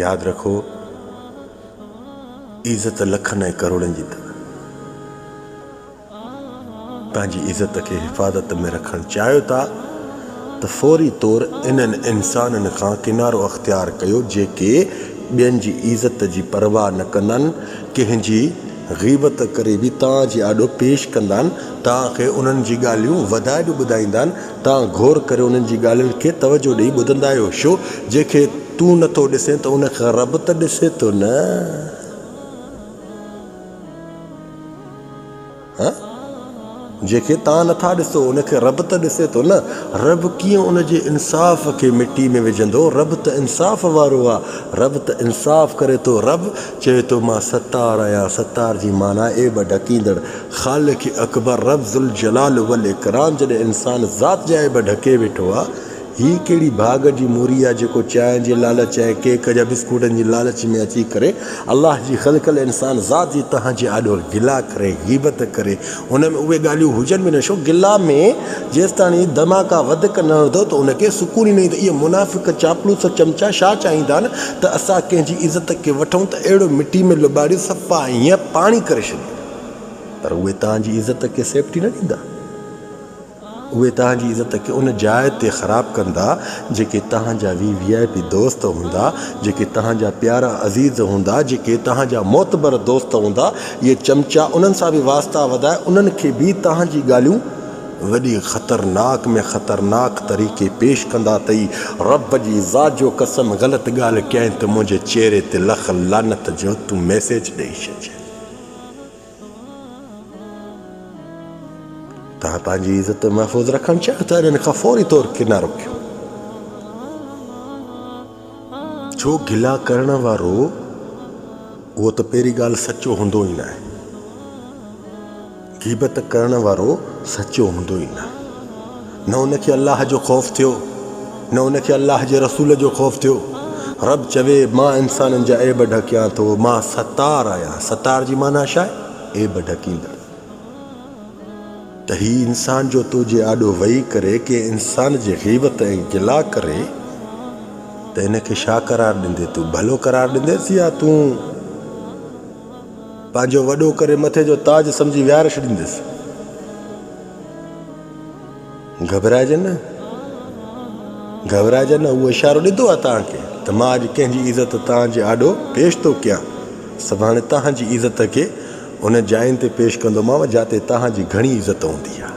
ياد رکو عزت لکن ۽ ڪروڙن جي اٿم. پنهنجي عزت کي حفاظت ۾ رکڻ چاهيو ٿا ته فوري طور انهن انسانن کان ڪنارو اختيار ڪيو جيڪي ٻين جي عزت جي پرواهه نه ڪندن ڪنهن جي غيبت ڪري به تان جي آڏو پيش ڪندان، تان کي انهن جي ڳالهيون وڌائي به ٻڌائيندان، تان غور ڪري انهن جي ڳالهين کي توجهه ڏيئي ٻڌندا آهيو، شو جنهن کي تون نه ٿو ڏسين ته ان کي رب ته ڏسي ٿو نه. جنهن کي توهان نٿا ڏسو ان کي رب ته ڏسي ٿو نه. رب ڪيئن ان جي انصاف کي مٽي ۾ وجهندو؟ رب ته انصاف وارو آ. رب ته انصاف ڪري ٿو. رب چوي ٿو مان ستار آهيان. ستار جي معنيٰ عيب ڍڪيندڙ. خالق اڪبر رب ذوالجلال والاڪرام جڏهن انسان ذات جا عيب ڍڪي ويٺو آ هي ڪهڙي ڀاڳ جي موري آهي جيڪو چانهه جي لالچ ۽ ڪيڪ جا بسڪوٽن جي لالچ ۾ اچي ڪري الله جي خلقل انسان ذات جي تهن جي آڏو گلا ڪري غيبت ڪري ان ۾ اهي ڳالهيون هجن به نه ڇو گلا ۾ جيستاڻي هي ڌماڪا وڌڪ نه هڻندو ته ان کي سڪون ئي نه ايندو اهي منافق چاپلوس چمچا ڇا چاهيندا آهن ته اسان ڪنهن جي عزت کي وٺون ته اهڙو مٽي ۾ لٻاڙي صفا هيئن پاڻي ڪري ڇڏيون پر اهي تهن جي عزت کي سيفٽي نه ڏيندا. اهي توهان جي عزت کي ان جاء تي خراب ڪندا جيڪي توهان جا وي وي آء پي دوست هوندا، جيڪي توهان جا پيارا عزيز هوندا، جيڪي توهان جا معتبر دوست هوندا، اهي چمچا انهن سان به واسطا وڌائي انهن کي به توهان جي ڳالهيون وڏي خطرناڪ ۾ خطرناڪ طريقي پيش ڪندا تئي رب جي ذات جو قسم غلط ڳالهه ڪيائين ته منهنجي چهري تي لک لعنت جو تون ميسيج ڏئي ڇڏجين. توهان پنهنجي عزت محفوظ رکڻ چاهيو ته انهن کان فوري طور ڪنارو ڪيو. ڇو گلا ڪرڻ وارو اهو ته پهرين ڳالهه سچو هوندو ئي ناهي. غيبت ڪرڻ وارو سچو هوندو ئي ناهي. نه ان کي الله جو خوف ٿيو، نه ان کي الله جي رسول جو خوف ٿيو. رب چوي، مان انسانن جا عيب ڍڪيان ٿو، مان ستار آهيان. ستار جي معنيٰ ڇا آهي؟ عيب ڍڪيندڙ. ته هي انسان جو تو جي آڏو ويهي ڪري ڪنهن انسان جي غيبت ۽ گلا ڪري ته ان کي ڇا قرار ڏيندي؟ تون ڀلو قرار ڏينديس يا تون پنهنجو وڏو ڪري مٿي جو تاج سمجهي ويهاري ڇڏينديس؟ گهٻرائجي نه، گهٻرائجي نه، اهو اشارو ڏنو آهي توهان کي ته مان اڄ ڪنهن جي عزت توهان جي آڏو پيش ٿو ڪيان. سڀاڻي توهان جي عزت کي انهن جاين تي پيش ڪندومانو جاتي توهان جي گهڻي عزت هوندي آهي.